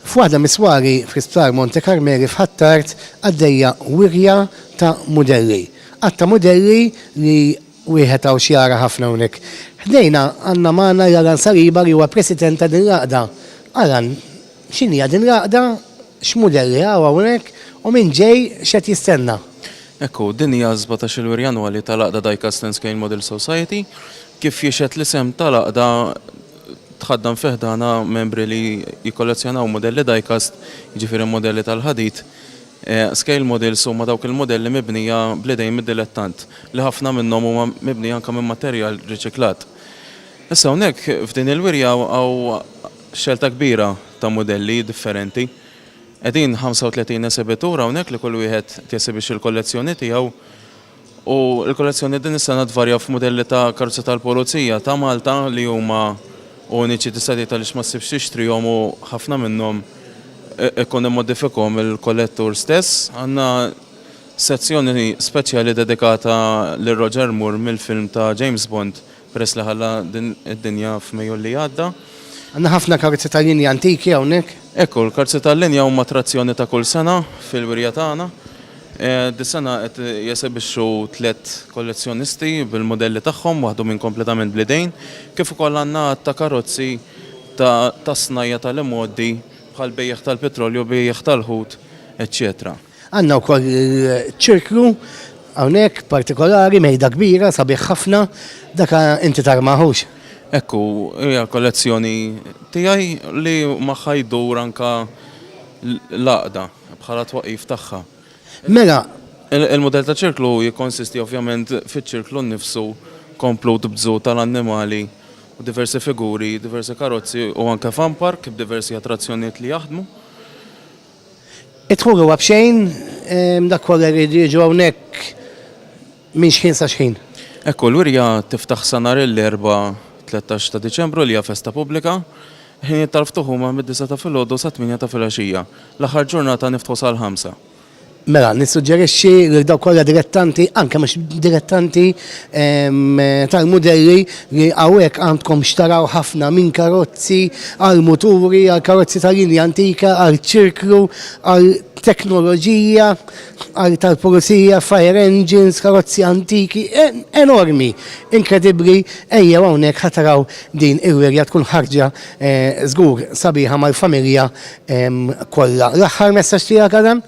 F'waħda mis-swari fl-Isptar Monte Carmeli f'Ħ'Attard għaddejja wirja ta' mudelli. Għadd ta' mudelli li wieħed hawn x'jara ħafna hawnhekk. Ħdejna għandna magħna lil Alan Saliba li huwa President ta' din l-għaqda. Alan, x'inhija din l-għaqda, x'mudelli hawn hawnhekk u min ġej x'qed jistenna? Hekk hu, din hija s-sbatax-il wirja annwali tal-għaqda Diecast and Scale Model Society. Kif jixhed l-isem tal-għaqda, tħaddan fi ħdanha membri li jikkollezzjonaw mudelli die-cast, jiġifieri mudelli tal-ħadid. Scale models huma dawk il-mudelli mibnija bl-idejn mid-dilettant, li ħafna minnhom huma mibnija anke minn materjal riċiklat. Issa hawnhekk f'din il-wirja hawn xelta kbira ta' mudelli differenti. Qegħdin 35 esibitur hawnhekk li kull wieħed qed jesibixxi l-kollezzjoni tiegħu. U l-kollezzjoni din is-sena tvarja f'mudelli ta' karozzi tal-Pulizija ta' Malta li huma uniċi tista' tgħid għaliex ma ssibx tixtrihom u ħafna minnhom ikun immodifikakhom il-kollettur stess. Għandna sezzjoni speċjali dedikata lil Roger Moore mill-film ta' James Bond Peress li ħalla din id-dinja f'Mejju li għadda. Għandna ħafna karzi tal-linja antiki hawnhekk. Ekku, l-karzi tal-linja huma attrazzjoni ta' kull sena fil-wirja tagħna. Dis-sena qed jesebixxu tliet kollezzjonisti bil-mudelli tagħhom waħdhom kompletament bl-idejn, kif ukoll għandna għadd ta' karozzi tas-snajja' tal-imgħoddi bħall-bejjiegħ tal-pitrolju, bejjiegħ tal-ħut, eċċetera. Għandna wkoll ċirklu hawnhekk partikolari mejda kbira sabiħ ħafna dak inti tarmaħux. Ekku, hija kollezzjoni tiegħi li magħha jdur anka l-għaqda bħala twaqif tagħha. Mela. Il-mudell ta' ċirklu jikkonsisti ovvjament fiċ-ċirklu nnifsu komplut b'zoo tal-annimali u diversi figuri, diversi karozzi u anke fun park b'diversi attrazzjonijiet li jaħdmu. Id-dħul huwa b'xejn, dak kollha jridu jiġu hawnhekk minn xħin sa xħin. Hekk hu l-wirja tiftaħ sa nhar l-Erbgħa 13 ta' Diċembru li hija festa pubblika. Il-ħinijiet tal-ftuħ huma mid-disgħa ta' filgħodu sat-tmienja ta' filgħaxija. L-aħħar ġurnata niftħu sal-ħamsa. Mela, nissuġġerixxi lil dawk kollha dilettanti, anke mhux dilettanti, tal-mudelli, li hawnhekk għandkom x'taraw ħafna minn karozzi għal muturi, għal karozzi ta' linja antika, għal ċirklu, għal teknoloġija, għal tal-pulizija, fire engines, karozzi antiki, enormi, inkredibbli, ejjew hawnhekk ħa taraw din il-wirja tkun ħarġa żgur sabiħa mal-familja kollha. L-aħħar messaġġ tiegħek Adam?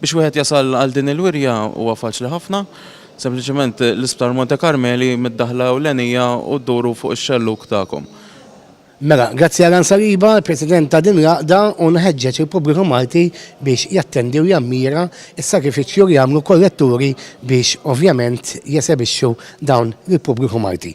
Biex wieħed jasal għal din il-wirja huwa faċli ħafna. Sempliċement l-Isptar Monte Karmeli mid-daħla ewlenija u dduru fuq ix-xellug tagħkom. Mela, grazzi għal Ann Saliba, il-President ta' din l-għaqda u nħeġġeġ il-pubbliku Malti biex jattendi u jammira s-sagrifiċċju li għamlu kolletturi biex ovvjament jesebixxu dawn lill-pubbliku Malti.